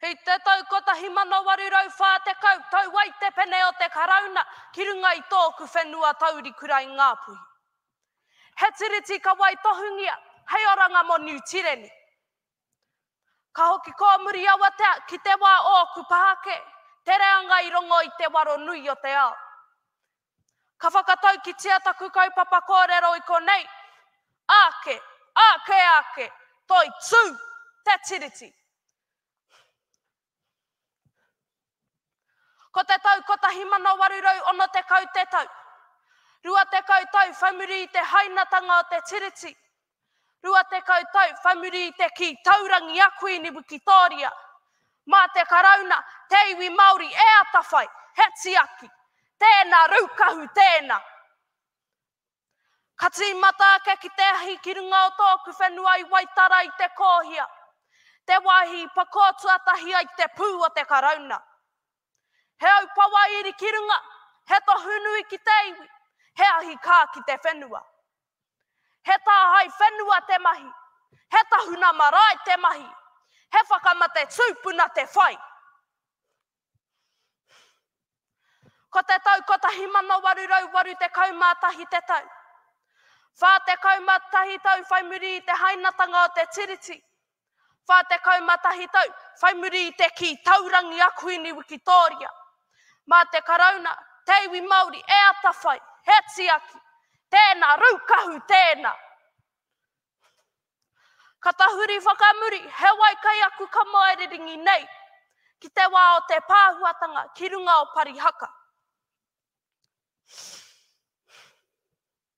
I te tau 1840 tau ai te pene o te Karauna ki runga i tōku whenua taurikura i Ngāpuhi. He tiriti ka waitohungia hei oranga mō Niu Tireni. Ka hoki kōmuri awatea ki te wā ōku pahake, te reanga i rongo i te waro nui o te ao. Ka whakataukitia taku kaupapa kōrero i konei, Ake, ake, ake, toi tū, te Tiriti. Ko te tau 1860 te tau, 20 tau whaimuri i te hainatanga o te Tiriti, Rua tekau tau whai muri i te kī taurangi a Kuini Wikitōria, mā te Karauna te iwi Māori e atawhai, he tiaki. Tēnā, raukahu tēnā. Ka tīmata ake ki te ahi ki runga o tōku whenua i Waitara i te Kōhia, te wāhi i pakō tuatahi ai te pū o te Karauna. He aupawa iri ki runga, he tohu nui ki te iwi, he ahi kā ki te whenua. He tāhae whenua te mahi, he tahuna marae te mahi, he whakamate tūpuna te whai. Ko te tau 1881 te tau. 41 tau whai muri i te hainatanga o te Tiriti, 41 tau, whai muri i te kī, taurangi a Kuini Wikitōria. Mā te Karauna, te iwi Māori e atawhai, he tiaki, tēnā, raukahu tēnā. Ka tahuri whakamuri, he wai kai aku kamaererengi nei, ki te wā o te pāhuatanga ki runga o Parihaka.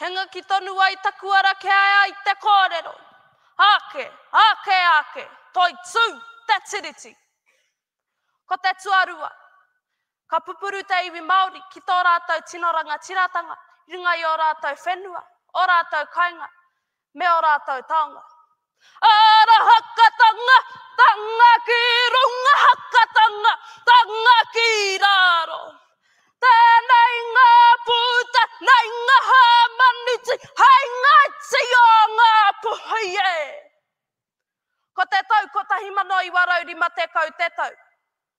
Hengaki tonu ai taku ara kia ea i te kōrero, Ake, ake, ake, toi tū, te Tiriti! Ko te tuarua, ka pupuru te iwi Māori ki tō rātou tino rangatiratanga i runga i ō rātou whenua, ō rātou kainga, Me ō rātou taonga. Ara hakatanga, tanga ki runga, hakatanga, tanga ki raro. Tēnei ngā pūta, nei ngā hāmaniti, hei ngā tī o ngā puhi e. Ko te tau 1950 te tau.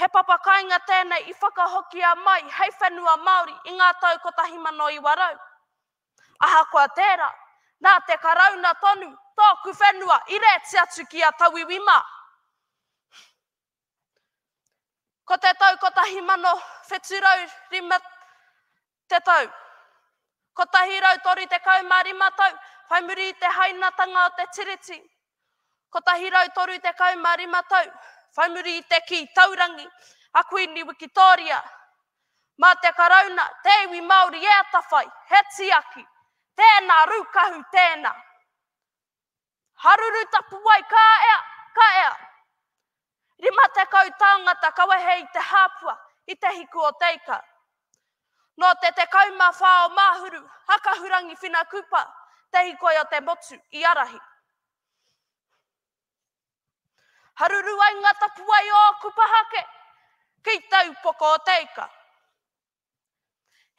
He papa kainga tēnei i whakahokia mai hei whenua Māori i ngā tau 1900. Ahakoa tērā, nā te Karauna tonu tōku whenua i rēti atu ki a Tauiwi mā. Ko te tau 1705 Te tau 135 tau whai muri i te hainatanga o te Tiriti, 135 tau whai muri i te kī taurangi a Kuini Wikitōria, mā te Karauna, te iwi Māori e atawhai, he tiaki, tēnā rūkahu tēnā. Haruru tapuwae ka ea, ka ea. Rima tekau tāngata ka wehe i te hāpua, i te hiku o Teika. Nō te tekau mā whā o Māhuru, a Kahurangi Whina Kupa, te hikoi o te motu, i arahi. Haruru ai ngā tapuwae o Kupahake ki taupoko o Teika.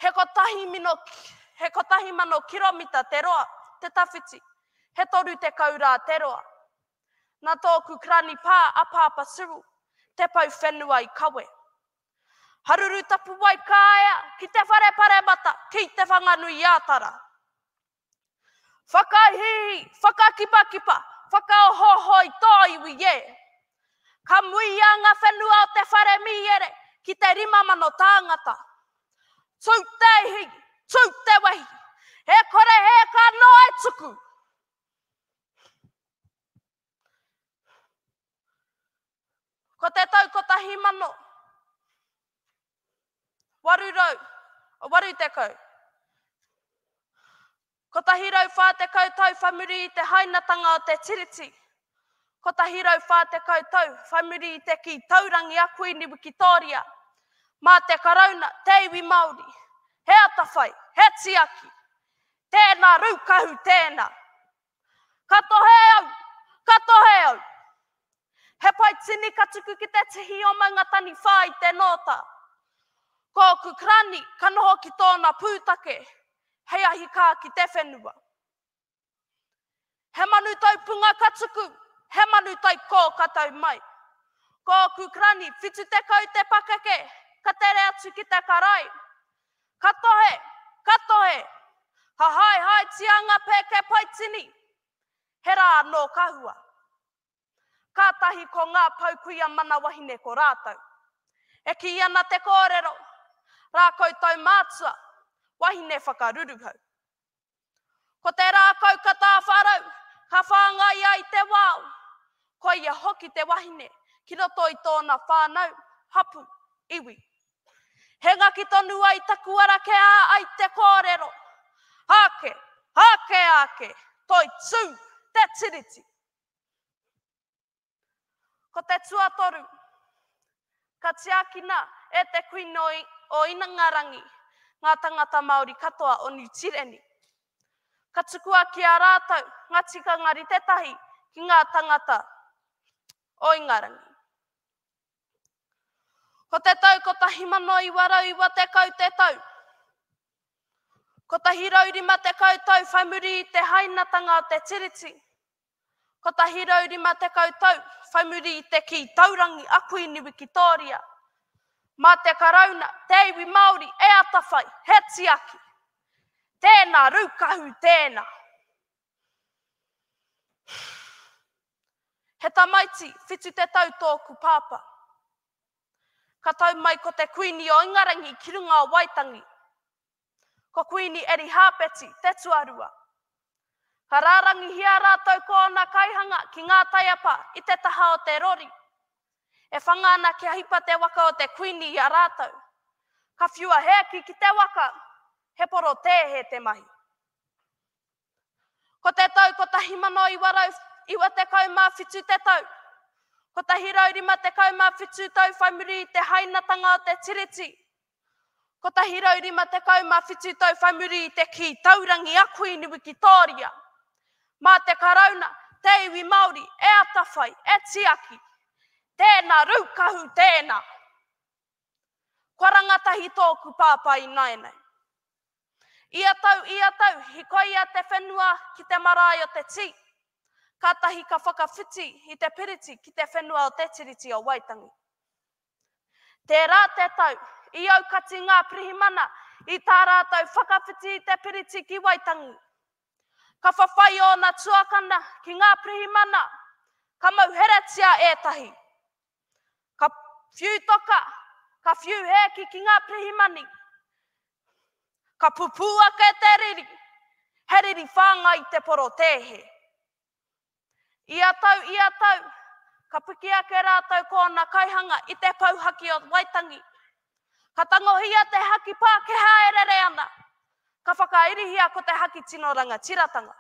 He kotahi mino, he kotahi mano kiromita te roa, te tawhiti, he toru tekau rā te roa. Na tōku krani pā a Pāpa Siril, te pau whenua i kawe. Haruru Tapuwae Kāea ki te whare paremata, ki Te Whanganui-ā-Tara. Whakahi, whakakipakipa, whakaohooho i tō iwi e! Ka muia ngā whenua o te whare mīere ki te rima mano tāngata. Tū te ihi, tū te wehi, e kore e ka noa e tuku! Ko te tau 1880, 140 tau whai muri i te hainatanga o te Tiriti, 140 tau whai muri i te kī taurangi a Kuini Wikitōria, mā te Karauna, te iwi Māori, he atawhai, he tiaki, tēnā raukahu tēnā. Ka tohe au! Ka tohe au! He pai tini ka tuku ki te tihi o Maunga Taniwha i te nōta. Ko ōku karani ka noho ki tōna pūtake hei ahi kā ki te whenua. He manu tau punga ka tuku, he manu tai kō ka tau mai. Ko ōku karani 70 te pakeke ka tere atu ki te karae. Ka tohe! Ka tohe! Hahaehaetia nga pēke paitini! He rā anō ka hua. Kātahi ko ngā pou kuia mana wahine ko rātou. E kī ana te kōrero, Rā koutou mātua, wahine whakaruruhau. Ko te rākau ka tāwharau, ka whāngai ai te wao. Ko ia hoki te wahine ki roto i tōna whānau, hapū, iwi. He ngaki tonu ai taku ara ke ā ai te kōrero. Ake, ake, ake, toi tū, te tiriti. Ko te tuatoru, ka tiakina e te Kuini o Inangarangi ngā tangata Māori katoa o Niu Tireni. Ka tukua ki a rātou ngā tikanga rite tahi ki ngā tangata o Ingarangi. Ko te tau 1990 te tau. 150 tau whai muri i te hainatanga o te Tiriti, 150 tau whai muri i te kī taurangi a Kuini Wikitōria, mā te Karauna te iwi Māori e atawhai, he tiaki. Tēnā, Rūkahu, tēnā. He tamaiti whitu te tau tōku pāpā. Ka tau mai ko te Kuini o Ingarangi ki runga o Waitangi. Ko Kuini Erihāpeti te tuarua. Ka rārangihia rātou ko ōna kaihanga ki ngā taiapa i te taha o te rori. E whanga ana kia hipa te waka o te Kuini i a rātou. Ka whiua he aki ki te waka, he porotēhe te mahi. Ko te tau 1997 te tau, 157 tau whai muri i te hainatanga o te Tiriti, 157 tau whai muri i te kī taurangi a Kuini Wikitōria, mā te Karauna, te iwi Māori e atawhai, e tiaki. Tēnā raukahu tēnā. Kua rangatahi tōku pāpā ināianei. Ia tau, ia tau, hikoia te whenua ki te marae o te tī, kātahi ka whakawhiti i te piriti ki te whenua o te Tiriti o Waitangi. Tērā te tau, i aukati ngā pirihimana i tā rātou whakawhiti i te piriti ki Waitangi. Ka whawhai ōna tuakana ki ngā pirihimana, ka mauheretia ētahi. Ka whiu toka, ka whiu hēki ki ngā pirihimani. Ka pupū ake te riri, he riri whāngai i te porotēhe. Ia tau, ia tau, ka piki ake rātou ko ōna kaihanga i te pou haki o Waitangi. Ka tangohia te haki Pākehā e rere ana, ka whakairihia ko te haki tino rangatiratanga.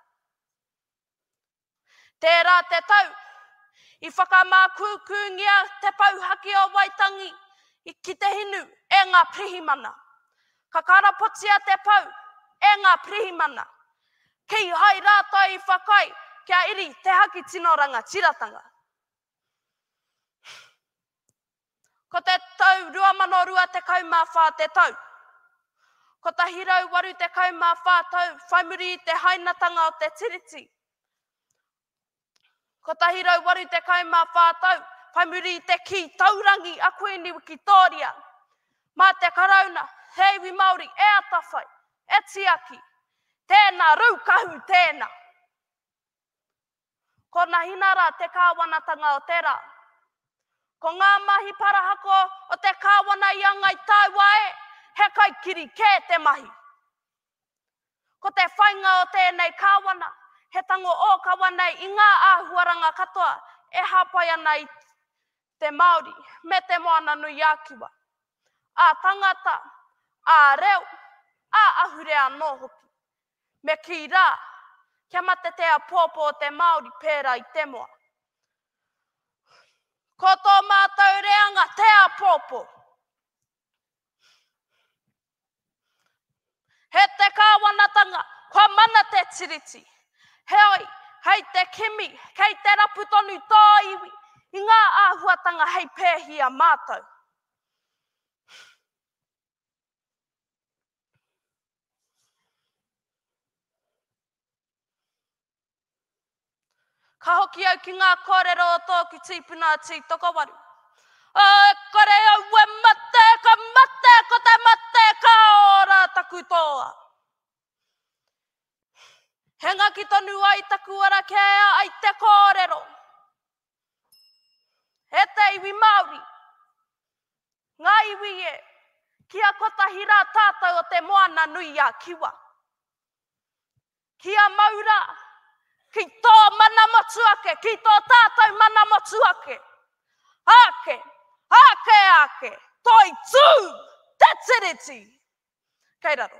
Tērā te tau, i whakamākūkūngia te Pouhaki o Waitangi ki te hinu e ngā pirihimana. Ka karapotia te pou e ngā pirihimana, kīhai rātou i whakaae kia iri te haki tino rangatiratanga. Ko te tau 2024 te tau 184 tau whai muri i te hainatanga o te Tiriti, 184 tau whai muri i te kī taurangi a Kuini Wikitōria mā te Karauna, he iwi Māori e atawhai, e tiaki, tēnā raukahu tēnā. Ko Nahinara te kāwanatanga o te rā. Ko ngā mahi parahako o te kāwana i a Ngai Taua e, he kaikiri kē te mahi. Ko te whainga o tēnei kāwana, he tango ōkawa nei i ngā āhuaranga katoa e hāpai ana i te Māori me Te Moana-nui-a-Kiwa, ā-tangata, ā-reo, ā-ahurea anō hoki. Me kī rā, kia mate te apoapo o te Māori pērā i te moa. Ko tō mātou reanga te apoapo. He te kāwanatanga, kua mana te Tiriti. Heoi, hei te kimi, kei te rapu tonu tō iwi i ngā āhuatanga hei pēhia mātou. Ka hoki au ki ngā kōrero o tōku tīpuna a Tītokowaru. O e kore au e mate, ka mate, ko te mate, ka ora taku toa. He ngaki tonu ai taku ara kē ai te kōrero. E te iwi Māori, ngā iwi e, kia kotahi rā tātou o te Moana nui a Kiwa. Kia mau rā, ki tō mana motu ake, ki tō tātou mana motu ake. Ake, ake, ake, toi tū, te Tiriti! Kei raro.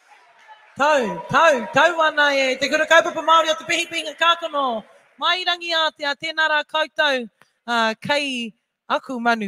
Tau, tau, tau ana e Te Kura Kaupapa Māori o Te Pihipihinga Kākano, Mai Rangiātea, tēnā rā koutou kei aku manu.